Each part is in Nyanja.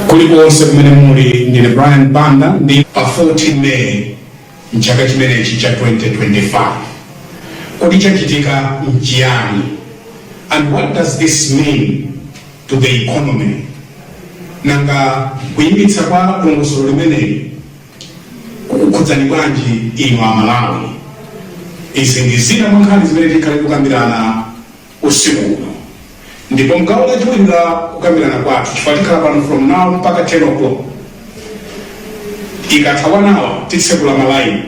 kulikonse kumene muli ndine brian banda ndi pa 14 may mchaka chimenechi cha 2025 kodi chachitika mchiyani and what does this mean to the economy nanga kuyimitsa kwa dongosolo limeneli kukukhudzani bwanji inu amalawi izi ndi zina mwa nkhani zimene tikhale tikukambirana usiku uno. Ndipo mgawo lachiwiri la kukambirana kwathu, chifukwa tikhala pano from now mpaka 10 o'clock, ikatha one hour titsekula malaini,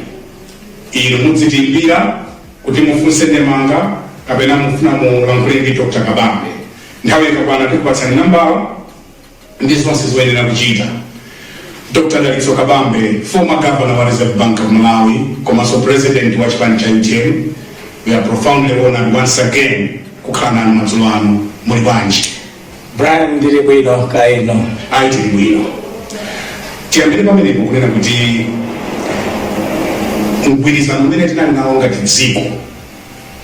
inu mudzitiimbira kuti mufunse ndemanga kapena mufuna mulankhule ndi Dr. Kabambe. Nthawi ikakwana tikupatsani nambala ndi zonse zoyenera kuchita. Dr. Dalitso Kabambe, former governor wa Reserve Bank of Malawi, komanso president wa chipani cha UTM, we are profoundly honored once again kukhala nanu madzulo ano muli bwanji. Brian ndili bwino kaya inu ayi tili bwino tiyambire pamenepo kunena kuti mgwirizano umene tinali nawo ngati dziko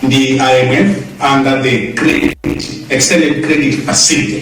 ndi imf under the credit extended credit facility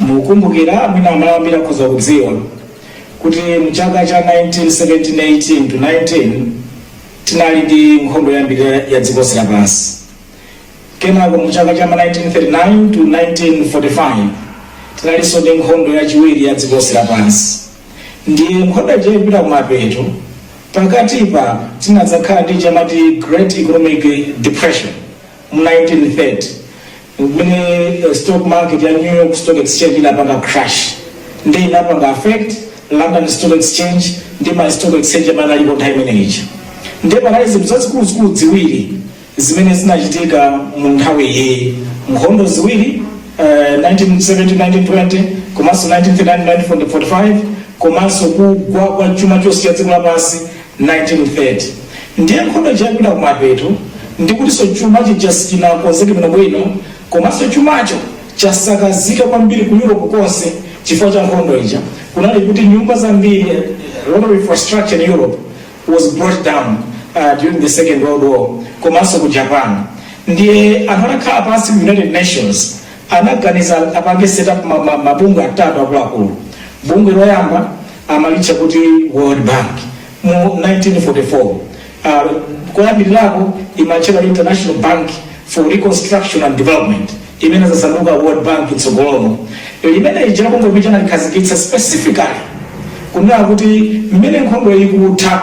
mukumbukira mwina Amalawi ambiri akhoza kudziwa kuti mchaka cha 1917-18 to 19 tinali ndi nkhondo yoyambirira ya dziko lonse lapansi kenako mchaka cha 1939 to 1945 tinalinso ndi nkhondo yachiwiri ya dziko lonse lapansi ndiye nkhondo ija ikupita kumapeto pakatipa tinadzakhala ndi chomwe amati great economic depression Mu 1930, when stock market ya New York Stock Exchange inapanga crash, ndiye inapanga affect London Stock Exchange ndi ma stock exchange amene analipo nthawi imene ija. Ndiye panali zinthu zazikuluzikulu ziwiri zimene zinachitika mu nthawi iyi, nkhondo ziwiri eh, 1917-1920 komanso 1939-1945 komanso kugwa kwa chuma chonse cha dziko lapansi 1930 ndiye nkhondo ija ikupita kumapeto ndikutinso chuma chija sichinakonzeke bwinobwino komanso chumacho chasakazika kwambiri ku europe konse chifukwa cha nkhondo ija kunali kuti nyumba zambiri eh, a lot of infrastructure in europe was brought down uh, during the second world war komanso ku japan ndiye anthu anakhala pansi ku united nations anaganiza apange set up ma- ma- mabungwe atatu akuluakulu bungwe loyamba amalitcha kuti World Bank mu 1944. Koyambirirako imatchedwa International Bank for Reconstruction and Development, imene inadzasanduka World Bank kutsogoloko. Limene lija linali bungwe limene analikhazikitsa specifically kunena kuti mmene nkhondoyi ikutha,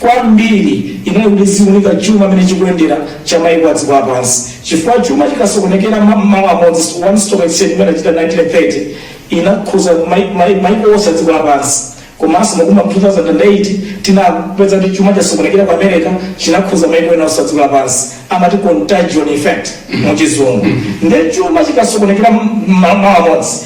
kwambiri inali kuti iziunika chuma mmene chikuyendera cha maiko a dziko lapansi chifukwa chuma chikasokonekera ma- malo amodzi one stock exchange imene achita 1930 inakhuza mai- mai- maiko onse a dziko lapansi komanso mu 2008 tinapeza kuti chuma chasokonekera ku america chinakhuza maiko ena onse a dziko lapansi amati contagion effect muchizungu nde chuma chikasokonekera ma- malo amodzi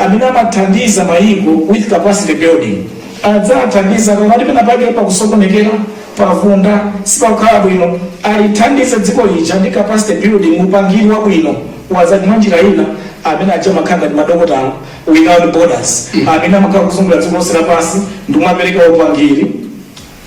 amene amathandiza mayiko with capacity building adzathandiza pakati penapake pakusokonekera pavunda sipakukhala bwino alithandize dziko lija ndi capacity building upangiri wabwino wazachuma mwa njira ina amene aja amakhala ngati madokotala without borders amene amakhala kuzungulira dziko lonse lapansi ndikumapereka upangiri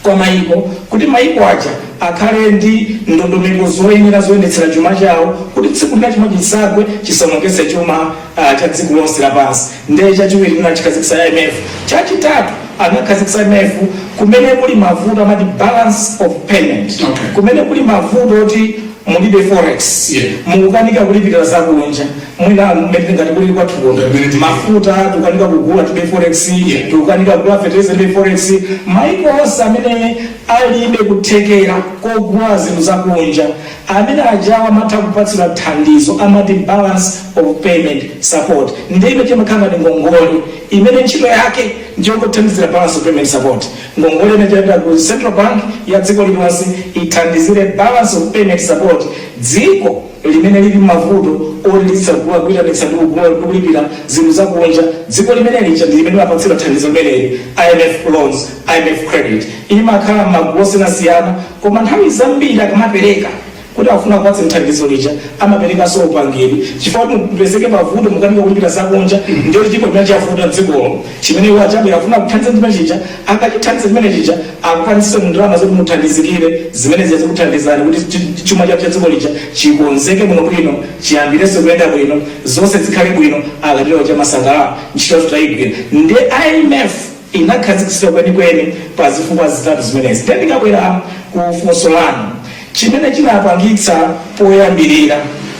kwa mayiko kuti mayiko aja akhale ndi ndondomeko zoyenera zoyendetsera chuma chawo kuti tsiku lina chuma chisagwe chisaonongetse chuma ah, cha dziko lonse lapansi ndiye chachiwiri chimene achikhazikitsa imf chachitatu anakhazikitsa imf kumene kuli mavuto amati balance of payment Okay. kumene kuli mavuto oti mulibe forex Yeah. mukukanika kulipirira zakunja mwina mmene ngati kulili kwathu kuno ndi mmene tili mafuta tikukanika kugula tilibe forex tikukanika kugula fertilizer tilibe forex maiko onse amene alibe kuthekera kogula zinthu zakunja amene ajawa amatha kupatsidwa thandizo amati balance of payment support ndiye imene imakhala ngati ngongole imene ntchito yake ndiyongothandizira balance of payment support ngongole imene imapita ku central bank ya dziko lililonse ithandizire balance of payment support dziko limene lili mmavuto oti lizisagula, kuitanitsa ndi kugula ndi kulipira zinthu za kunja, dziko limene lija ndi limene limapatsidwa thandizo limeneli, IMF loans, IMF credit. Imakhala mmagulu osiyanasiyana koma nthawi zambiri akamapereka kuti akufuna kupatsani thandizo lija amaperekanso upangiri chifukwa kuti mupezeke pavuto mukanika kulipira za kunja ndiye chilipo chimene chavuta m'dzikolo chimene iwo aja akufuna kuthandiza chimene chija akachithandiza chimene chija akupatseni ndalama zoti muthandizikire zimene zija zikuthandizani kuti chi- chi- chuma cha dziko lija chikonzeke bwino bwino chiyambirenso kuyenda bwino zonse zikhale bwino akatero amasangalala ntchito yathu tayigwira nde imf inakhazikitsidwa kwenikweni pa zifukwa zitatu zimenezi then ndikabwera ku funso lanu chimene chinapangitsa poyambirira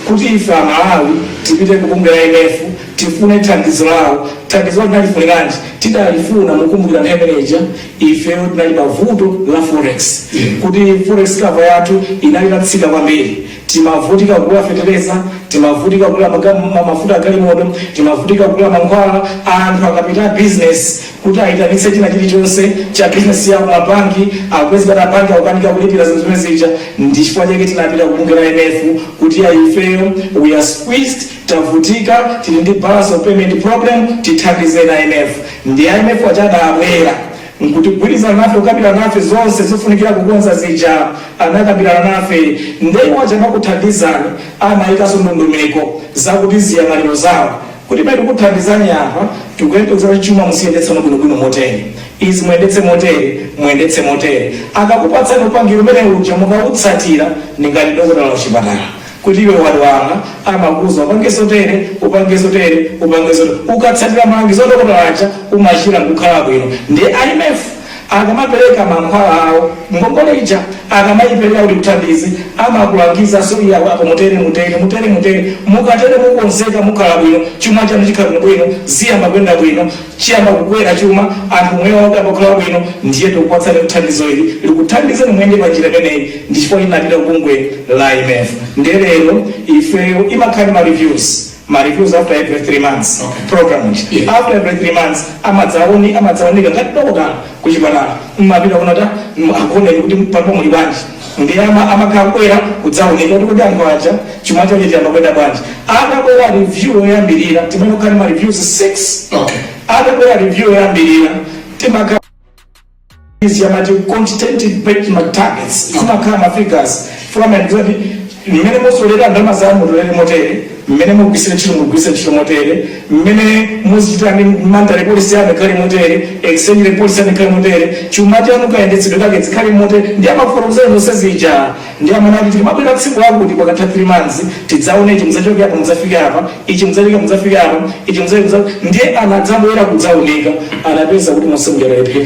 kuti ife amalawi tipite kubungwe la imf tifune thandizo lawo thandizo tinalifuniranji tidalifuna mukumbukira nthawi imeneja ifeyo tinali pa vuto la forex kuti forex cover yathu inali itatsika kwambiri timavutika kugula fetereza timavutika kugula maga- ma- mafuta agalimoto timavutika kugula mankhwala anthu akapita a business kuti ayitanitse china chilichonse cha business yawo mabanki akupezeka mabanki akukanika kulipira zinthu zimene zija ndi chifukwa chake tinapita kubungwe la imf kuti ya ifeyo we are squeezed Tavutika tili ndi balance of payment problem tithandizeni a imf. Ndi a imf aja adabwera nkudzagwirizana nafe kukambirana nafe zonse zofunikira kukonza zija anakambirana nafe nde iwo aja amakuthandizani amaikaso ndondomeko zakuti ziyang'aniro zawo kuti pamene tikukuthandizani apa tikuyembekeza kuti chuma muziyendetsano bwinobwino motere izi muyendetse motere muyendetse motere. Akakupatsani upangiri umene uja mukautsatira ndingati dokotala wachipatala. kuti iwe wadwala amakuuza upange zotere upange zotere upange zotere ukatsatira malangizo adokotala aja umachira nkukhala bwino ndi imf akamapereka mankhwala awo ngongole ija akamayipereka kuti ikuthandize amakulangiza zoyiya apo mutere mutere mutere mutere mukatere mukonzeka mukhala bwino chuma chanu chikhala bwino bwino ziyamba kuyenda bwino chiyamba kukwera chuma, anthu umoyo wawo uyamba kukhala wabwino ndiye tikupatsani thandizo ili likuthandizeni muyende pa njira imeneyi ndi mmene limatero bungwe la IMF ndiye lero ifeyo timakhala ndi ma reviews ma reviews after every 3 months program ija after every 3 months amadzaone amadzaunika ngati dokotala kuchipatala mmapita kuona kuti mm, akuoneni kuti palipo muli bwanji ndiye ama amakhala kubwera kudzaunika kuti kodi anthu aja chuma chawo chiyamba kuyenda bwanji akabwera review yoyambirira timayenera kukhala ma reviews 6 Okay. akabwera review yoyambirira timakhala izi amati quantitative benchmark targets zimakhala ma figures fika mayandikiza kuti mmene mutolera ndalama mutolere motere Mmene mugwiritsira ntchito mugwiritsa ntchito motere, mmene muzichitira ndi monetary policy yanu ikhale motere, exchange rate policy yanu ikhale motere, chuma chanu kayendetsedwe kake zikhale motere ndiye amakufotokozerani zonse zija. Ndiye amanena kuti tikamabwera tsiku lakuti pakatha 3 months tidzaone ichi mudzachoke apa mudzafike apa, ichi mudzachoke mudzafike apa, ichi mudzafike mudzafike. Ndiye anadzabwera kudzaunika anapeza kuti monse muja analephera.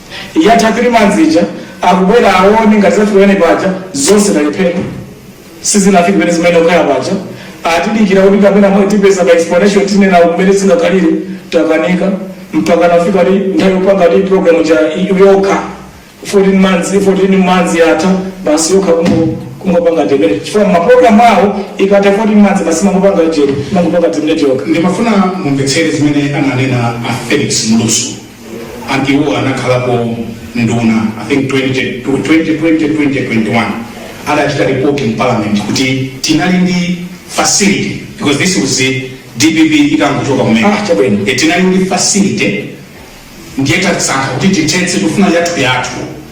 Yatha 3 months ija akubwera awone ngati zafika pamene paja zonse talephera sizinafike pamene zimayenera kukhala paja atidikira kuti kapena mwina tipeza ma explanation tinena kumene zingakhalire takanika mpakana kufika nthawi yopanga kuti program ija i- yokha 14 months 14 months yatha basi yokha kungo kungopanga terminate chifukwa maprogramu awo ikatha 14 months basi imangopanga jeri imangopanga terminate yokha ndimafuna mumvetsere zimene ananena a felix mlusu anthuwo anakhalapo nduna i think 20, 2020 2021 adachita report in parliament kuti tinali ndi facility because this was the dpp itangochoka kumene Ah, chabwino. Eh, tinali ndi facility ndiye tasankha kuti tithetse tifuna yathu yathu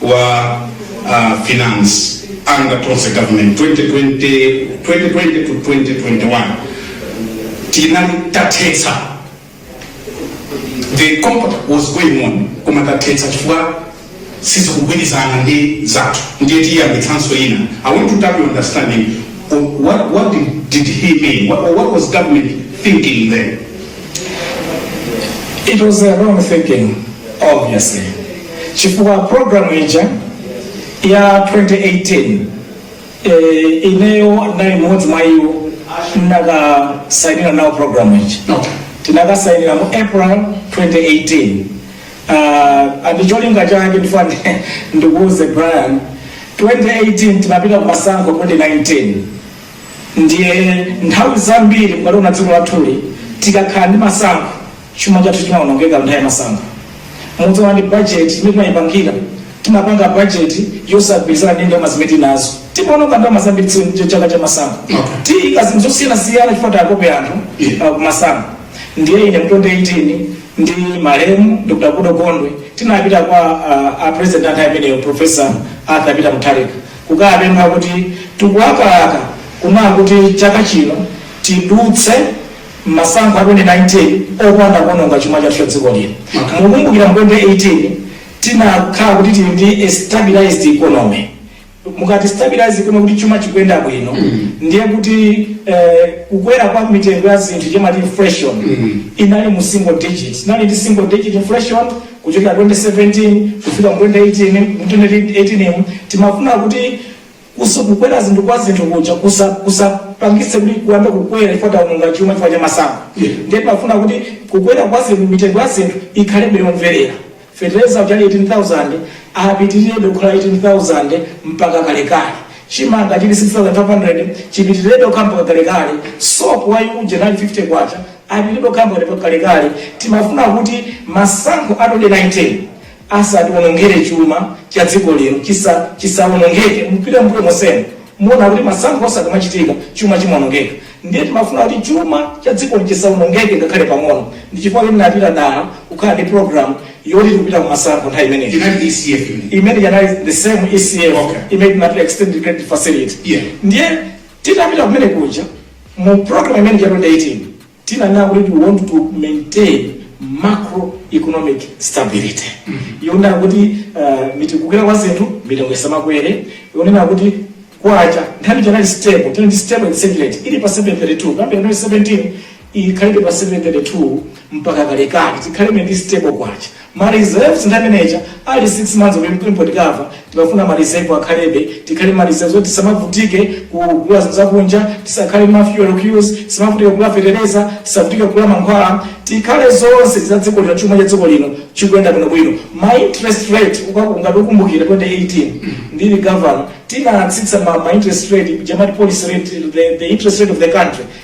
wa uh, finance under Tonse government 2020, 2020 to 2021 tinali tathetsa the program was going on koma tathetsa chifukwa sizikugwirizana ndi zathu ndiye tiyambitsanso ina i want to tap your understanding on what, what did, did he mean what, what was government thinking then it was a wrong thinking obviously chifukwa program ija ya 2018 eh, ineyo nali mmodzi mwa iwo ndinakasainira nawo program ija tinakasainira mu april 2018 uh, and cholinga chake ndifuna ndi- ndikuuze brian 2018 tinapita kumasankho 2019 Ndiye nthawi zambiri mukaliona dziko lathuli tikakhala ndi masankho chuma chathu chimaonongeka nthawi ya masankho mudzaona ndi bajeti imene timayipangira timapanga bajeti yosagwirizana ndi ndalama zimene tinazo timaononga ndalama zambiri chifukwa ndi chaka cha masankho timaika zinthu zosiyanasiyana chifukwa takope anthu Yeah. uh, kumasankho ndiye ine mu 2018 ndi malemu dr goodall gondwe tinapita kwa uh, a president panthawi imeneyo professor arthur peter mutharika kukapempha kuti tikulakalaka kunena kuti chaka chino tidutse masankho a 2019 opanda kuononga chuma chathu cha dziko lino. Mukukumbukira mu 2018 tinakhala kuti tili ndi a stabilized economy. Mukati stabilized economy kuti chuma chikuyenda bwino ndiye kuti eh, kukwera kwa mitengo ya zinthu timati inflation inali mu single digit. Tinali ndi single digit inflation Kuchokera 2017 kufika mu 2018, mu 2018 mu, timafuna kuti kuso kukwera zinthu kwa zinthu kuja kusa kusapangitse kuti kuyambe kukwera chifukwa taononga chuma chifukwa cha masankho. Yeah. Ndiye timafuna kuti kukwera kwa zinthu mitengo ya zinthu ikhalebe yomverera. Fetereza uja anali 18,000 apitirebe kukhala 18,000 mpaka kalekale. Chimanga chili 6,500 chipitirebe kukhala mpaka kalekale. Sopo wathu uja anali 50 kwacha apitirirebe kukhala mpaka kalekale timafuna kuti masankho a 2019 asatiwonongere chuma cha dziko lino chisawonongeke, mupite mmbuyo monsemu muona kuti masankho onse akamachitika chuma chimawonongeka ndiye timafuna kuti chuma cha dzikoli chisawonongeke ngakhale pang'ono ndi chifukwa choti tinapita dala kukhala ndi program yoti tikupita kumasankho nthawi imeneyo Inali ECF imene. imene ija inali the same ECF Okay. imene tinapita extended credit facility Yeah. ndiye titapita kumene kuja Mu program imene ija ya 2018 tinanena kuti we want to maintain macroeconomic stability yonena kuti uh, kukwera kwa zinthu mitengo isamakwere yonena kuti kwacha nthawi ija inali stable tinali stable exchange rate ili pa 732 kuyambira 2017 ikhalebe pa 732 mpaka kalekale tikhalebe ndi stable kwacha Ma reserves nthawi imene ija ali 6 months of import cover, timafuna ma reserve akhalebe, tikhale ndi ma reserves oti tisamavutike kugula zinthu za kunja, tisakhale ndi ma fuel queues, tisamavutike kugula fetereza, tisavutike kugula mankhwala, tikhale zonse za dziko lino, chuma cha dziko lino chikuyenda bwinobwino. Ma interest rate ukaku- ngati ukumbukira 2018 ndili governor tinatsitsa ma, ma interest rate ija amati policy rate the, the interest rate of the country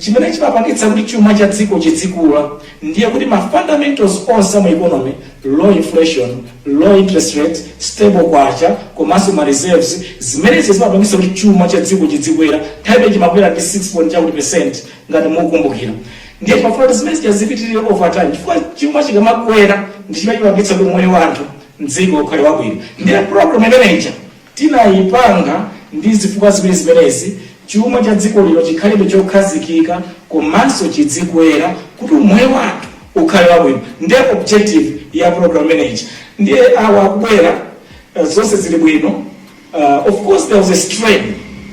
Chimene chimapangitsa kuti chuma cha dziko chidzikula ndiye kuti ma fundamentals onse a mu economy, low inflation, low interest rate, stable kwacha komanso ma reserves, zimene zija zimapangitsa kuti chuma cha dziko chidzikwera, nthawi imene ija chimakwera ndi 6 point chakuti percent ngati mukukumbukira. Ndiye timafuna kuti zimene zija zipitirire over time chifukwa chuma chikamakwera ndi chimene chimapangitsa kuti moyo wa anthu m'dziko ukhale wabwino. Ndiye program imene ija tinaipanga ndi zifukwa ziwiri zimenezi, chuma cha dziko lino chikhalebe chokhazikika komanso chidzikwera kuti umoyo wathu ukhale wabwino ndi objective ya program imene ija ndiye awa akubwera uh, zonse zili bwino uh, of course there was a strain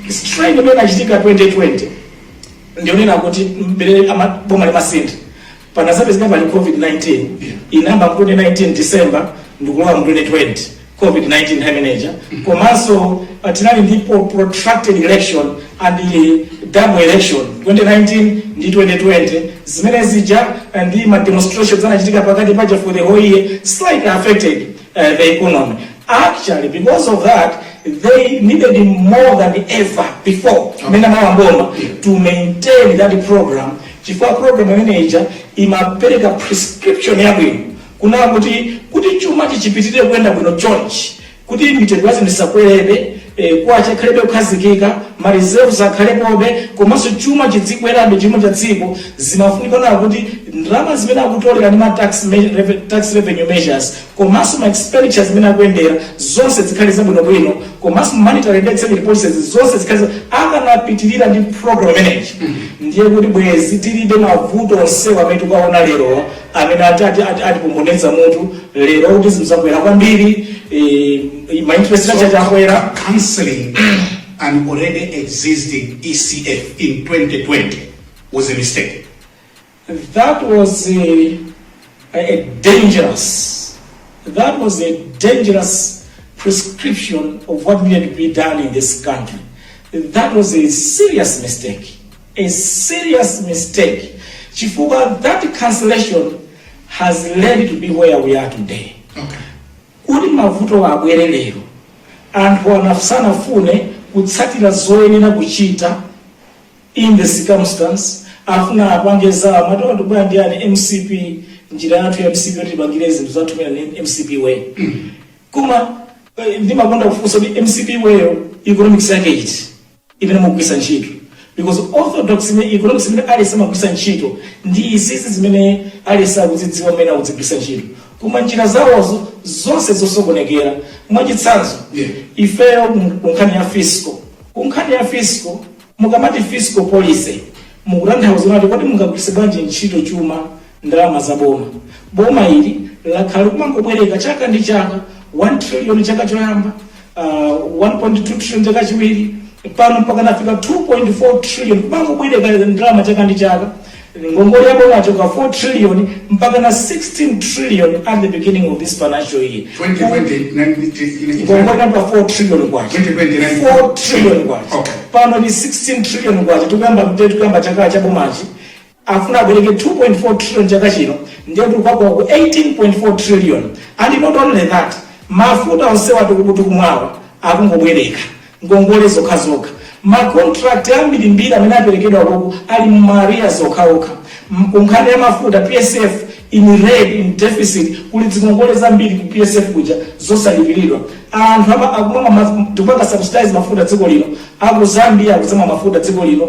strain imene inachitika 2020 ndi yonena kuti m'mene ama- boma limasintha Panazapezeka pali COVID-19 inayamba 2019 December ndikulowa mu 2020 COVID-19 nthawi imene ija komanso ah, tinali ndi pro- protracted election and eh, double election 2019 ndi 2020 zimene zija ah, ndi ma demonstrations anachitika pakati paja for the whole year slightly affected uh, the economy actually because of that they needed more than ever before mmene amalowa m'boma to maintain that program chifukwa program imene ija imapereka prescription yabwino kunena kuti kuti chuma chipitirire kuyenda bwino chonchi kuti mitengo ya zinthu isakwerebe eh, kwacha akhalebe okhazikika ma reserves akhalepobe komanso chuma chidzikwerabe chuma cha dziko zimafunika kunena kuti ndalama zimene akutolera ndi ma tax, me- reve- tax revenue measures komanso ma expenditure zimene akuyendera zonse zikhale zabwinobwino komanso ma monetary ndi exchange rate policies zonse zikhale za- akanapitirira ndi program imeneyi ndiye kuti bwezi tilibe mavuto onsewa amene tikuwaona lero amene ati ati ati atipomboneza mutu lero kuti zinthu zakwera kwambiri eh, ma interest rate aja akwera canceling an already existing ECF in 2020 was a mistake. That was a, a dangerous, that was a dangerous prescription of what needed to be done in this country. That was a serious mistake, a serious mistake. Chifuwa, that cancellation has led to be where we are today. Okay. kuti mavuto abwere lero anthu anafusanafune kutsatira zoyenera kuchita in the circumstance afuna apange zawo amati atotobwa ndi yani mcp njira yathu ya mcp yoti tipangira zinthu zathu mu njira ya mcp way koma eh, ndimakonda kufunsa kuti mcp wayo economics yake iti imene mukugwiritsa ntchito because orthodox imene economics imene aliyense amagwiritsa ntchito ndi izizi zimene aliyense akuzidziwa mmene akuzigwiritsa ntchito koma njira zawozo zonse zosokonekera mwachitsanzo Yeah. ifeyo ku- ku nkhani ya fiscal ku nkhani ya fiscal Mukamati fiscal policy mukutanthauza kunena kuti kodi mungagwiritse bwanji ntchito chuma, ndalama za boma. Boma ili lakhala likumangobwereka chaka ndi chaka 1 trillion chaka choyamba, uh, 1.2 trillion chaka chiwiri, pano mpaka nafika 2.4 trillion kumangobwereka ndalama chaka ndi chaka. Ngongole ya boma yachoka 4 trillion mpakana 16 trillion at the beginning of this financial year. 2020 ngongole inali pa 4 trillion kwacha 4 trillion kwacha okay. pano ni 16 trillion kwacha tikuyamba mtete tikuyamba chaka cha bomachi afuna abwereke 2.4 trillion chaka chino ndiye tikukamba ku 18.4 trillion and not only that mafuta onsewa tikumwawa akungobwereka ngongole zokhazokha. Ma contract ambirimbiri amene aperekedwa kuno ali mu ma arrears okhaokha. Ku nkhani ya mafuta PSF in red, in deficit, kuli zingongole zambiri ku PSF kuja zosalipiridwa. Anthu ama akumwa ma tikupanga subsidize mafuta dziko lino, aku Zambia akudzamwa mafuta dziko lino,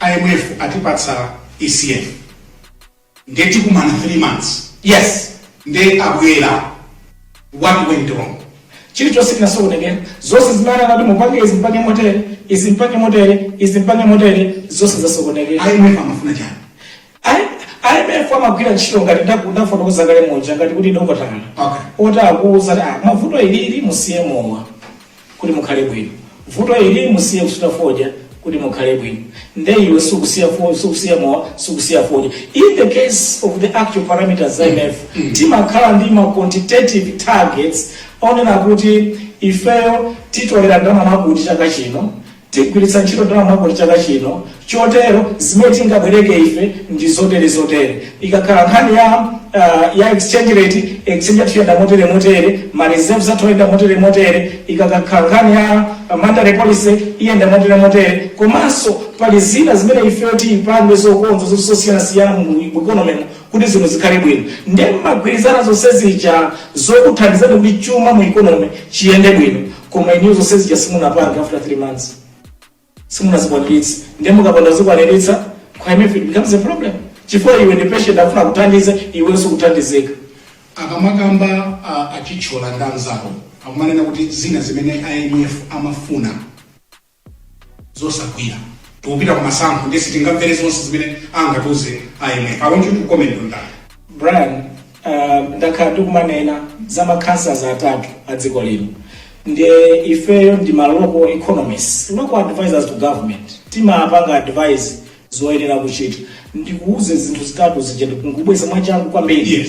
IMF atipatsa ECF nde tikumana 3 months yes nde abwera what went wrong chilichonse chinasokonekera zonse zimene anakati mupange izi mpange motere izi mpange motere izi mpange motere zonse zasokonekera IMF amafuna chani IMF amagwira ntchito ngati ndaku- ndafotokoza kale moja ngati kuti dokotala Okay. oti akuuza kuti "Ah, vuto ilili musiye mowa kuti mukhale bwino vuto ili musiye kusuta fodya kuti mukhale bwino nde iwe sukusiya fo- sukusiya mowa sukusiya fodya in the case of the actual parameters imf timakhala ndi ma quantitative targets onena kuti ifeyo titolera ndalama mwakuti chaka chino Tigwiritsa ntchito ndalama mwakuti chaka chino, chotero zimene tingabwereke ife ndi zotere zotere. Ikakhala nkhani ya, uh, ya exchange rate, exchange yathu iyenda motere motere, ma reserves athu ayenda motere motere, ikakhala nkhani ya uh, monetary policy iyenda motere motere, komanso pali zina zimene ifeyo tipange zokonza zinthu zosiyanasiyana mu economy mu kuti zinthu zikhale bwino. Ndiye mmagwirizana zonse zija zokuthandizani kuti chuma mu economy chiyende bwino. koma inuyo zonse zija simunapange after 3 months simunazikwanitse ndiye mukapanda kuzikwaniritsa kwa imf it becomes a problem chifukwa iwe ndi patient akufuna kuthandiza iwe sukuthandizika akamakamba a- a Chithyola ndi anzawo akumanena kuti zina zimene imf amafuna nzosagwira tikupita kumasankho ndiye sitingamvere zonse zimene angatiuze imf i want you to comment on that brian uh, ndakhala ndikumanena za ma cancers atatu a dziko lino ndiye ifeyo ndi ma local economists local advisors to government timapanga advise zoyenera kuchita ndikuuze zinthu zitatu zija ndikungubweza mwachangu kwambiri Yes.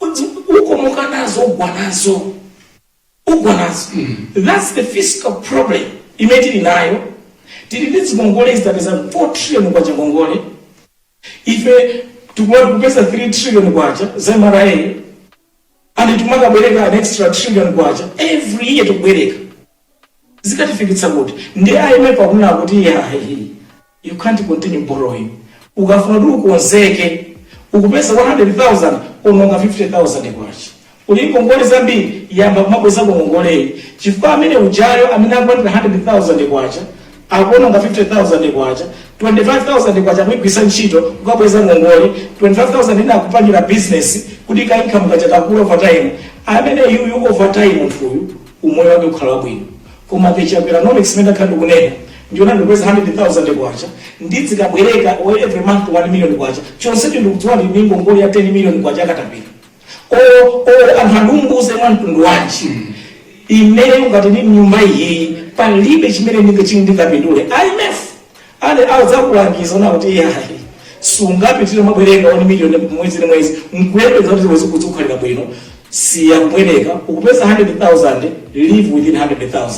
Udzi, ukomoka nazo ugwa nazo ugwa nazo thats the fiscal problem imene tili nayo tili ndi zikongole zitapeza 4 trillion kwacha ngongole ife tikumati kupeza 3 trillion kwacha za mra and tikumakabwereka an extra trillion kwacha every year tikubwereka zikatifikitsa kuti ndiye IMF akunena kuti yayi you can't continue borrowing ukafuna kuti ukonzeke ukupeza 100,000 ononga 50,000 kwacha uli ndi ngongole zambiri yamba kumabweza ngongoleyi chifukwa amene ujayo amene akupata 100,000 kwacha akuononga 50,000 kwacha 25,000 kwacha akugwiritsa ntchito kukabweza ngongole 25,000 ina akupangira business kuti ka income kaja kakula over time amene yuyu over time munthuyu umoyo wake ukhala wabwino koma katapila economics imene ndakhala ndikunena ndiona ndikupeza 100000 kwacha ndidzikabwereka or every month 1 million kwacha chonsecho ndikudziwa ndili ndi ngongole ya 10 million kwacha akatapila o o anthu andiwuze mwa mtundu wanji imeneyo ngati ndi nyumba iyiyi palibe chimene ndingachini ndingapindule imf nde adzakulangiza ano kuti iyayi sungapitirize kumabwereka 1 million mwezi ndi mwezi nkuyembeza kuti zinthu zikukhalira bwino siya kubwereka ukupeza 100000 live within 100000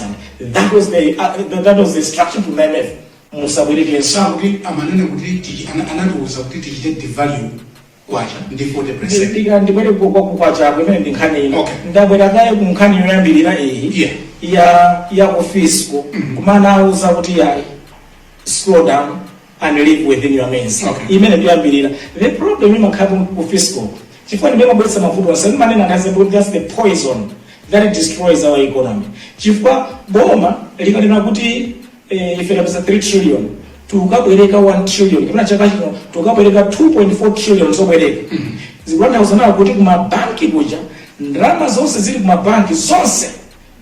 that was the uh, that was the instruction from the imf musabwerekenso sakuti amanena kuti tichi- ana- anatiuza kuti tichite devalue kwacha ndi 40%. ndika ndibwere ku- kwa kwacha imene ndi nkhani ina Okay. ndabwera kaye ku nkhani yoyambirira iyi Yeah. ya ya ku fiscal kumene anauza kuti ya slow down and live within your means Okay. imene ndiyambirira the problem imakhala ku fiscal chifukwa ndimene imabweretsa mavuto onse ndimanena ngazi kuti that's the poison that destroys our economy chifukwa boma likanena kuti eh, ife tapeza 3 trillion tikabwereka 1 trillion kapena chaka chino tikabwereka 2.4 trillion zobwereka zikutanthauza ano kuti kumabanki kuja ndalama zonse zili kumabanki zonse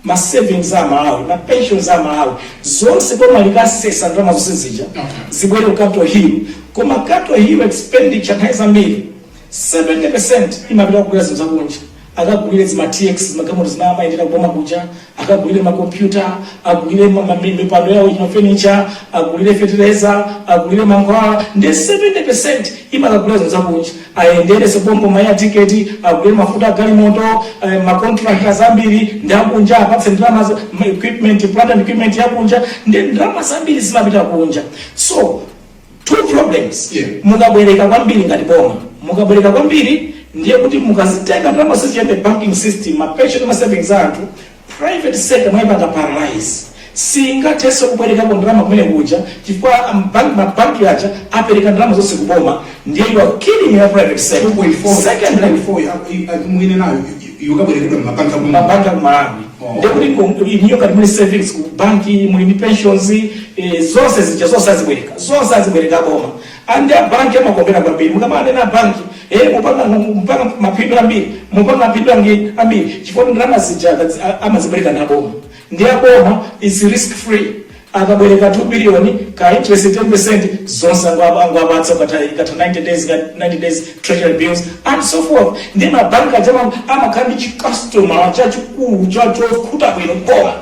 ma savings a Amalawi ma pensions a Amalawi zonse boma likasesa ndalama zonse zija zibwere ku capital hill koma capital hill expenditure nthawi zambiri 70 imapita kugula zinthu zakunja akagulire zima tx zimagalimoto zimene amayendera kuboma kuja akagulire makompyuta agulire ma- ma- mipando yawo yo furniture agulire fetereza agulire mankhwala nde 70 imakagulira zinthu zakunja ayendere sopompo ma air tiketi agulire mafuta agalimoto eh, makontrakitazi ambiri ndi akunja apatse ndalama za- ma- equipment plant and equipment yakunja nde ndalama zambiri zimapita kunja so 2 problems yeah. mukabwereka kwambiri ngati boma mukabwereka kwambiri ndiye kuti mukazitenga ndalama zija mu banking system mapension ma savings anthu private sector mwayipanga paralyze singathenso kubwerekako ndalama kumene kuja chifukwa ambank- mabanki aja apereka ndalama zonse kuboma ndiye you are killing your private sector secondly 2.4 mwine nayo yokabwerekedwa mmabanki ku mabanki ku malawi Oh. ndekuti ku- iniyo kati muli savings ku banki muli ndi pensions eh, zonse zija zonse azibwereka zonse azibwereka boma andi abanki amakondwera kwambiri mukamanena banki eh, mukupanga mupanga mapindu ambiri mupanga mapindu angi- ambiri chifukwa ndalama zija akazi- a- amazibwereka na boma ndiye boma is risk free akabwereka 2 billion ka interest 10% zonse angwa- angwapatsa ukatha ikatha 90 days ka- 90 days treasury bills and so forth ndi mabanki aja ma amakhala ndi chikastoma chachikulu cha chokhuta bwino boma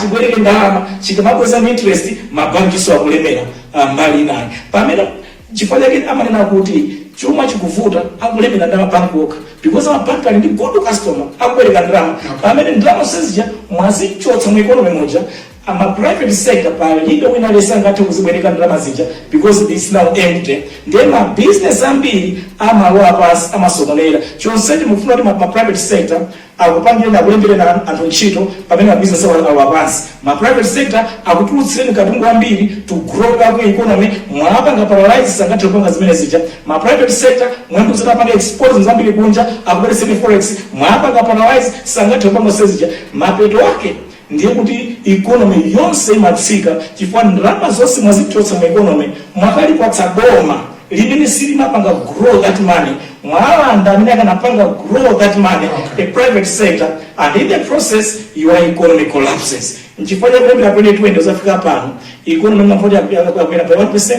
chibwereke ndalama chikamabweza ndi interest mabankiso akulemera ah, mbali inayi pamene Nchifukwa chake amanena kuti chuma chikuvuta akulemera ndi amabank okha because amabank ali ndi good customer akubwereka ndalama pamene ndalama zonse zija mwazichotsa mu economy muja ma private sector palibe wina aliyense angathe kuzibwereka ndalama zija because it's now empty ndiye ma business ambiri amalowa pansi amasokonera chonsecho mukufuna kuti ma ma private sector akupangireni, akulembereni anthu ntchito pamene ma business awo alowa pansi, ma private sector akutulutsireni katundu wambiri to grow up economy mwawapanga paralyze sangathe kupanga zimene zija, ma private sector mwati ziti apange export zinthu zambiri kunja akubweretseni forex mwawapanga paralyze sangathe kupanga zonsezija mapeto ake. ndiye kuti economy yonse imatsika chifukwa ndalama zonse mwazichotsa mu economy mwakalipatsa boma limene silimapanga grow that money mwalanda amene akanapanga grow that money the private sector and in the process your economy collapses nchifukwa chake pamene 20 kuzafika pano economy imavuta kukwera pa 1%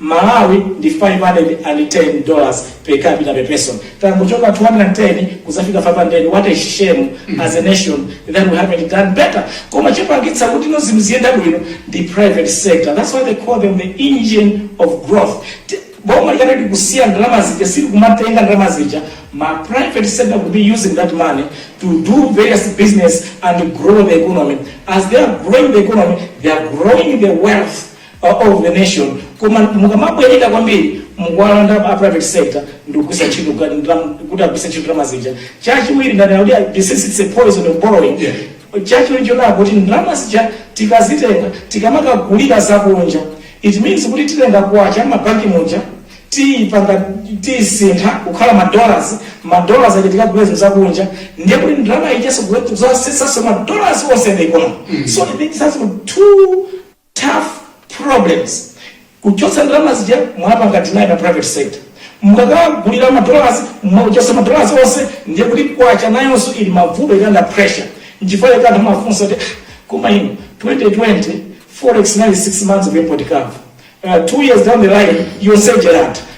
Malawi ndi 510 dollars per capita per person tangochoka 210 kuzafika 500 what a shame as a nation that we haven't done better koma chopangitsa kuti no zinthu ziyende bwino ndi private sector that's why they call them the engine of growth Ti- boma likati likusiya ndalama zija sili kumatenga ndalama zija ma private sector could be using that money to do various business and grow the economy as they are growing the economy they are growing the wealth of the nation koma mukamabwereka kwambiri mukuwalanda a private sector ndikugwisa ntchito ka- ndam- kuti agwise ntchito ndalama zija chachiwiri ndanena kuti I- this is a poison of borrowing Yeah. chachiwiri chonaa kuti ndalama zija tikazitenga tikamakagulira zakunja it means kuti titenga kwacha mabanki muja tiyipanga tiyisintha kukhala madollars madollars aja tikagula zinthu zakunja ndiye kuti ndalama ijaso izasesaso madollars onse mu economy so it means that's two tough problems kuchotsa ndalama zija mwapanga deny ma private sector mukakagulira ma dollars mwachotsa ma dollars onse ndiye kuti kwacha nayonso ili mavuto ili under pressure nchifukwa chake anthu amafunsa kuti "Ah, koma ino 2020 forex inali 6 months of import cover uh, 2 years down the line yonse ija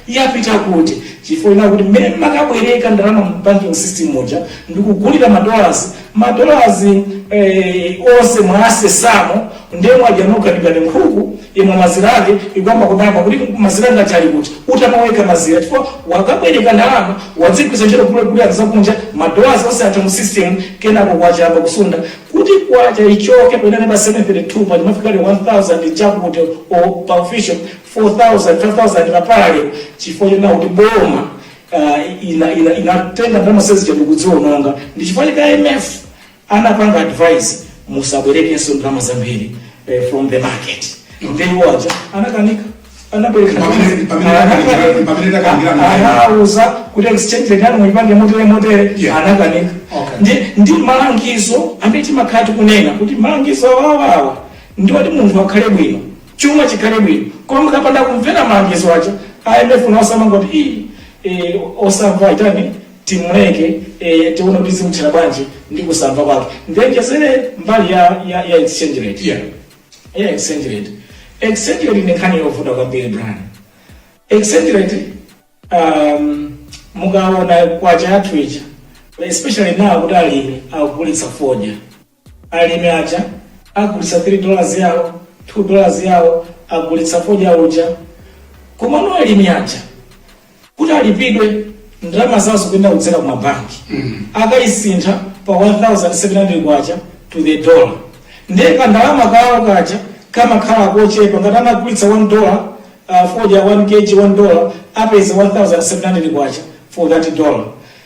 Yapita kuti? Chifukwa chonena kuti mmene mmakabwereka ndalama mu banking system muja ndikugulira ma dollars, ma dollars eeh onse mwasesamo ndiye mwadya nokha ndi ngati nkhuku yamwa mazira ake ikuyamba kudabwa kuti mazira anga aja ali kuti? Utamwa wekha mazira chifukwa wakabwereka ndalama wadzigwiritsa ntchito kugulira zakunja ma dollars onse atha mu system kenako kwacha yayamba kusunda kuti kwacha ichoke poyenera pa 732 paja yafika ili 1000 chakuti or pa official 4000, 5000 pa parallel chifukwa chonena kuti boma uh, ina, ina, inatenga ndalama zonse zija ndikuziononga ndi chifukwa chake IMF anapanga advice musabwerekenso ndalama zambiri eh, from the market dzina lake aja anakanika anabwereka Pamene- pamene anakanika- pamene anakanika- ana- anauza kuti exchange rate yanu muipange motere motere Yeah. anakanika Okay. ndi ndi malangizo amene timakhala tikunena kuti malangizo awawa ndi oti munthu akhale bwino chuma chikhale bwino koma mukapanda kumvera malangizo aja a IMF nawo amangoti ii eh, osamva tiyeni timuleke eh, tione kuti zimthera bwanji ndi kusamva kwake ndiwonjezere mbali ya, ya, ya exchange rate Yeah. ya exchange rate exchange rate ndi nkhani yovuta kwambiri Brian exchange rate um, mukaona kwacha yathu ija especially now kuti alimi akugulitsa fodya Alimi aja agulitsa 3 dollars yawo 2 dollars yawo agulitsa fodya uja komano alimi aja kuti alipidwe ndalama zawo zikuyenera kudzera ku mabanki akayisintha pa 1700 kwacha to the dollar ndiye kandalama kawo kaja kamakhala kochepa ngati anagulitsa 1 dollar uh, fodya 1 kg 1 dollar apeza 1700 kwacha for that dollar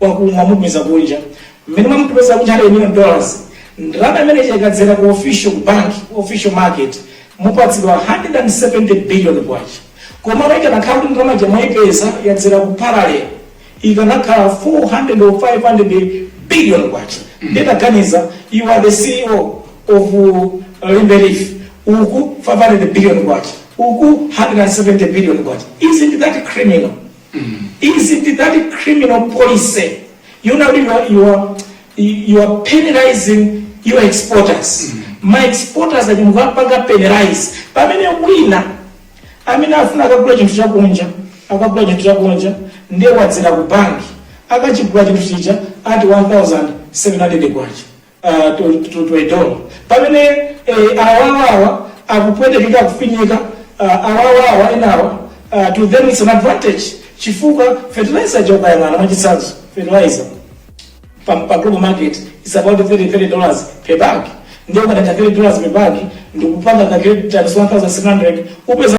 waku mwamupeza kunja mmene mwamupeza kunja 100 million dollars ndalama imene ija ikadzera ku official ku bank ku official market mupatsidwa 170 billion kwacha koma ikanakhala kuti ndalama ija mwaipeza yadzera ku parallel ikanakhala 400 or 500 billion kwacha ndiye taganizani you are the ceo of uh, Limbe Leaf uku 500 billion kwacha uku 170 billion kwacha isn't that criminal isn't that criminal policy yonena kuti you are- you are- you are penalizing your exporters ma exporters ati mukapanga penalize pamene wina amene afuna akagule chinthu chakunja akagula chinthu chakunja ndiye wadzera ku banki akachigula chinthu chija at 1700 kwacha uh, to, to, to a dollar pamene eh, awawawa akupwetekeka akufinyika uh, awawawa enawa uh, to them it's an advantage chifukwa fertilizer yokha yang'ana mwachitsanzo fertilizer pa, pa global market is about 30 30 dollars per bag ndiye ukatenga 30 dollars per bag ndikupanga ka 30 times 1700 upeza